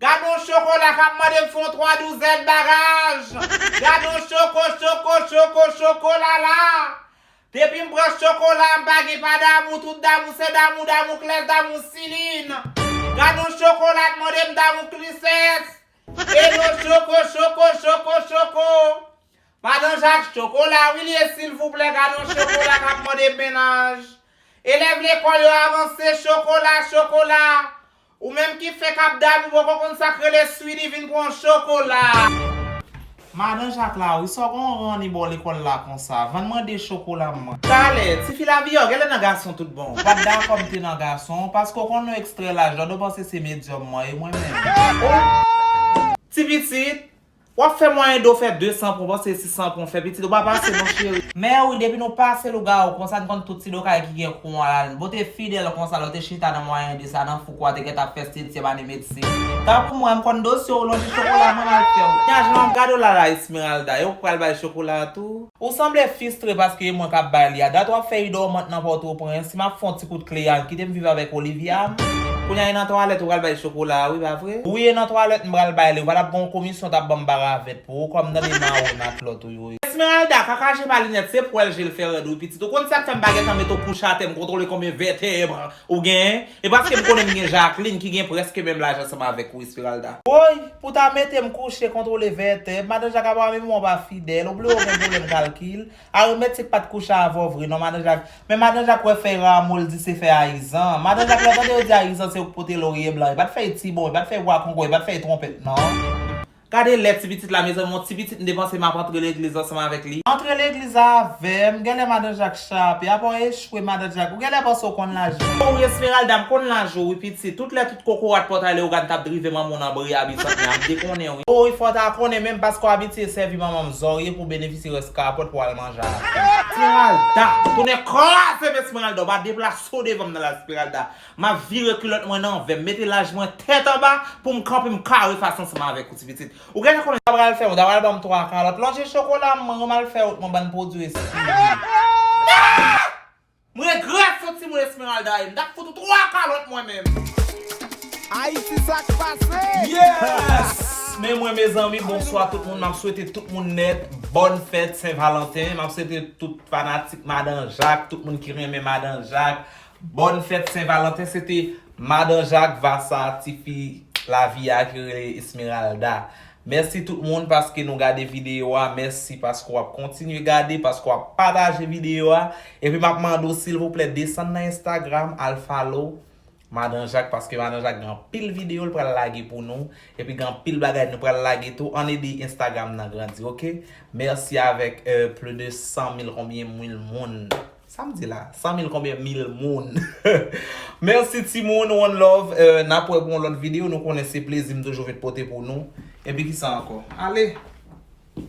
Gadon chokola kap mande m fon 3 douzèn bagaj gadon choko choko choko chokolala depi m pran chokola m pa gen pa damou tout damou se damou damou klès damou silin gadon chokola t mande m damou klisès eno choko choko choko choko madan jak chokola wi li ye silvouplè gadon chokola kap mande m menaj elèv lekòl yo avanse chokola chokola Ou menm ki fè kap dad ou poko konn sak rele sweety vin pran chokola. Madan jak la wi sa w gon ranni baw lekol la konsa van mwen de chokola m. Talè, tifi laviyò genlè nan gason tout bon. Ou pat dakò m te nan gason, paske w konn yon ekstrè lajòd ou panse se medyòm mwen ye mwen menm. Ti pitit, Wap fè mwayen do fè 200 pon panse si 100 pon fè pitit ou pa pase non cheri. Mèwi depi nou pase lougawou konsa n konn tout ti do kay ki gen kou an la n pote fidèl konsa lè w te chita nan mwayen de sa nan fouko a te gentan ap fè setyèm ane medsin tankou mwen m konn dosye w lonje chokola mwen mal fè w. Knya jan wap gade w la la Esmeralda yo pral bay chokola a tou. Ou sanble fistre paske e mwen kap bay li a. Dat wap fè u dormant nan Pòtoprens, si map fè yon ti kout kle a, kite m viv avèk Olivia m. Kounya e nan twalèt ou pral bay chokola a wi pa vre? Wi e nan twalèt m pral bay li, ou pa tap gen yon komisyon tap banm paravèt pou ou kòm nan menm a ou e matlòt ou yo. Esmeralda, kaka je pa linèt, se pwèl je l fè rèd wi pitit, ou konn sak fè m pa gentan met ou kouch atè m kontwole konbyen vètèbre Ou gen? E paske m konnen m gen Jacqueline ki gen prèske menm laj ansanm avèk ou Esmeralda. Woy! Pou ta mete m kouche kontwole vètèb, madan Jak apa menm wap a fidèl, ou bliye w gen pwoblèm kalkil? Aritmetik pat kouche avè w vre non madan Jak, men madan Jak wè fèy ramo l di se fèy ayizan. Madan Jak lè w tande yo di ayizan se yo k pote lorye blan, e pat fèy tibon, e pat fèy bwa kongo, e pat fèy twonpèt non. Gade lè ti pitit la mezanmi yon ti pitit m depanse map antre legliz ansanm avèk li. Antre legliz avèm genlè madan jak chape apa w echwe madan jak ou genlè panse w konn laje. Oh wi Esmeralda m konn laje wi pitit tout lè tout kokorat pòtay Leogane tap drive manman w nan bri a Bisantnè a m te konnen wi. Oh wi fò w ta konnen menm paske w abitye sèvi manman m zòrye pou w benefisye rès kapòt pou w al manje avèm. Esmeralda! Tonè kraze m Esmeralda w pa deplase w devan m nan la Esmeralda. Map vire kulòt mwen nan vè, m mete laj mwen tèt anba pou m kanpe m kare fas ansanm avèk ou ti pitit. Ou gentan konnen sa pral fè, ou ta pral banm 3 kalòt. Lonje chokola m, mwen mal fè wont mwen bann pwodwi esthie. M regrèt son timoun Esmeralda ye, m tap fout ou 3 kalòt mwen menm. Ayiti sak pase! Yes! Men mwen mezanmi bonswa tout moun map swete tout moun nèt bòn fèt sen valanten map swete tout fanatik madan jak tout moun ki renmen madan jak Bòn fèt sen valanten se te madan jak vasa tifi lavi a ki rele esmeralda mèsi tout moun paske nou gade video a mèsi paske wap kontinye gade paske wap pataje video a epi map mande w silvouplè desann nan instagram al follow madan jak paske madan jak gen anpil video l pral lage pou nou epi gen anpil bagay nou pral lage tou ann ede instagram nan grandi ok mèsi avèk plu de 100 mil konbyen mil moun. Sam di la 100 mil konbyen mil moun merci timoun one love nap wè pou yon lòt video nou konnen se plezi m toujou vin pote pou nou epi kisa ankò ale.